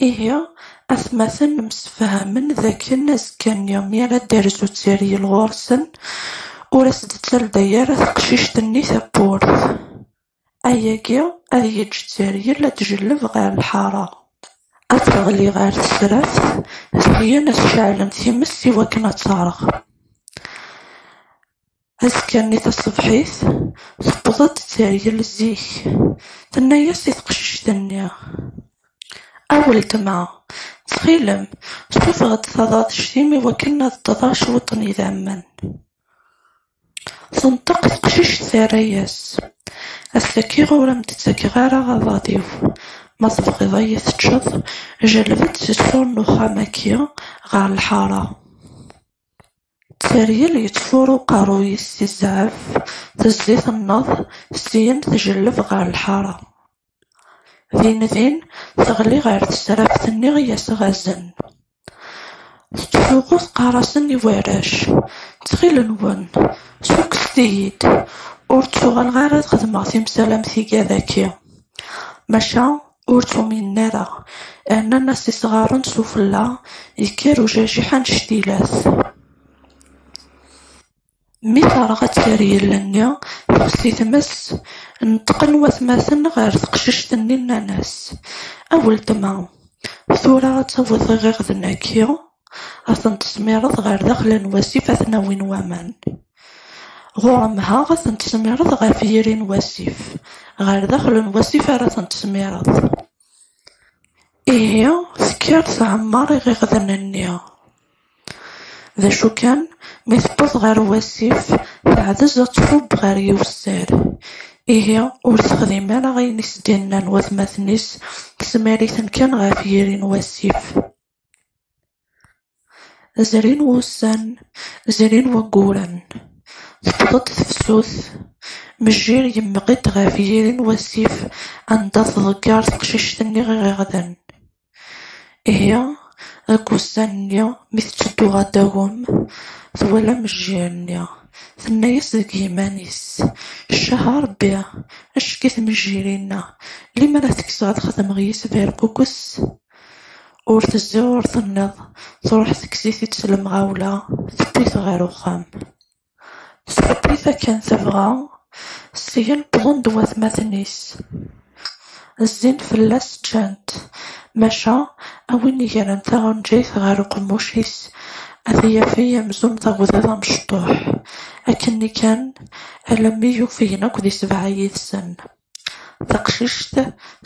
Ihi, atmaten msefhamen d akken azekka-nni mi ara d-terzu tteryel ɣur-sen, ur as-d-ttalday ara teqcict-nni tawwurt. Ayagi ad yeǧǧ tteryel ad d-tjelleb ɣer lḥara, ad teɣli ɣer tesraft, syin ad s-ceɛlen times i wakken ad terɣ. Azekka-nni taṣebḥit, tewweḍ-d Tteryel zik, tenna-yas i teqcict-nni, A weltma, ttxil-m, sufeɣ-d taḍadect-im i wakken ad d-ḍḍeɣ cwiṭ n yidammen. Tenṭeq teqcict terra-yas, Ass-agi ur am-d-ttakeɣ ara aḍad-iw, ma tebɣiḍ ad yi-teččeḍ, jelleb-d seg ṣṣur n uxxam-agi ɣer lḥara. Tteryel yettfuṛ uqerruy-is si zzɛef, tezzi tenneḍ, syin tjelleb ɣer lḥaṛa. Din din teɣli ɣer tesraft-nni i as-ɣazen. Tettfuɣu teqqar-asen i warrac, Ttxil-nwen, ssukkset-iyi-d, ur ttuɣaleɣ ara ad xedmeɣ timsal am tiga daki. Maca Ur tt-uminen ara, rnan-as isɣaren s ufella, yekker ujajiḥ anect ila-t. Mi terɣa ad tt-yerr yelli-nni, texsi tmes, neṭqen watmaten ɣer teqcict-nni nnan-as, A weltma, tura ad tawiḍ iɣiɣden-agi ad ten-tesmireḍ ɣer daxel n wasif ad ten-awin waman. Ɣur-m ha ad ten-tesmireḍ ɣef yiri n wasif, ɣer daxel n wasif ara ten-tesmireḍ. Ihi tekker tɛemmer iɣiɣden-nni. D acu kan, mi tewweḍ ɣer wasif, teɛdez ad tfubb ɣer yiwessar. Ihi ur texdim ara ayen i s-d-nnan watmaten-is, tesmar-iten kan ɣef yiri n wasif. Zrin wussan, zrin wayyuren, tewweḍ-d tefsut, mejjir yemmeɣ-d ɣef yiri n wasif anda tḍegger teqcict-nni iɣiɣden. Ihi, deg wussan-nni, mi tetteddu ɣer Dagum, twala mejjir-nni, tenna-yas deg yiman-is, Ccah a Rebbi, acki-t mejjir-inna, limer ad t-kkseɣ ad xedmeɣ yis-s berkukes! Ur tezzi ur tenniḍ, truḥ tekkes-it-id s lemɣawla, tewwi-t ɣer uxxam. Tewwi-t akken tebɣa, syin wwḍen-d watmaten-is. Zzin fell-as ččan-t, maca a win igren taɣenjayt ɣer uqemmuc-is a t-yafey amzun d agḍiḍ amecṭuḥ. Akkenni kan, alammi yufgen akk di sebɛa yid-sen. Taqcict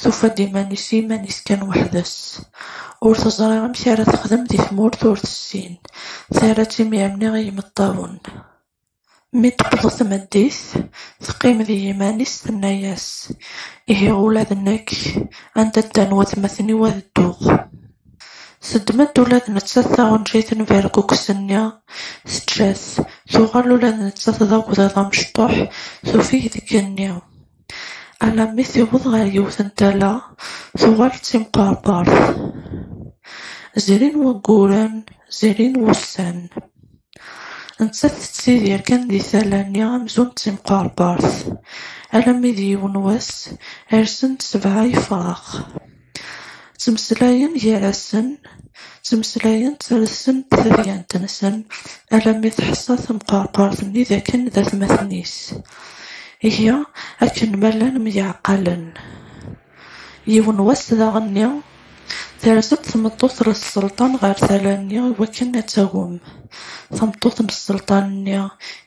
tufa-d iman-is s yiman-is kan weḥd-s, ur teẓri amek ara texdem di tmurt ur tessin, terra-tt imir-nni i yimeṭṭawen. Mi d-tewweḍ tmeddit, teqqim d yiman-is, tenna-yas, Ihi ula d nekk, anda ddan watmaten-iw ad dduɣ. Teddem-d ula d nettat taɣenjayt n Berkukes-nni, teǧǧa-t, tuɣal ula d nettat d agḍiḍ amecṭuḥ, tufeg deg igenni. Alammi tiweḍ ɣer yiwet n tala, tuɣal d timqerqert. Zrin wagguren, zrin wussan. Nettat tettidir kan di tala-nni amzun d timqerqert. Alammi d yiwen wass, rsen-d sebɛa yefrax. Ttmeslayen gar-asen, ttmeslayen ttarsen-d tadyant-nsen alammi teḥṣa temqerqert-nni d akken d atmaten-is. Ihi, akken ma llan myeɛqalen. Yiwen wass daɣen-nni, terza-d tmeṭṭut n sselṭan ɣer tala-nni i wakken ad tagem tameṭṭut n sselṭan-nni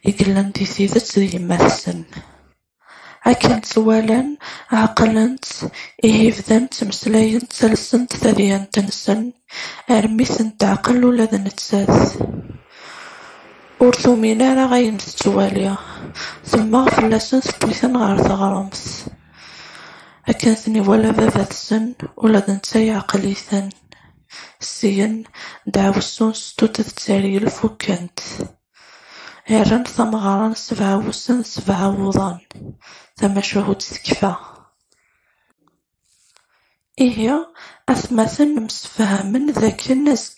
i yellan di tidet d yemma-tsen. Akken tt-walan, ɛeqlen-tt, ihi bdan ttmeslayen ttalsen tadyant-nsen, armi ten-teɛqel ula d nettat. Ur tumin ara ayen tettwali, temmeɣ fell-asen tewwi-ten ɣer teɣremt. Akken ten-iwala baba-tsen, ula d netta yeɛqel-iten. Syen, ddeɛwessu n Settutet d Teryel fukken-t. Rran tameɣra n sebɛa wussan d sebɛa wuḍan, tamacahut tekfa. Ihi, atmaten msefhamen dakken azekk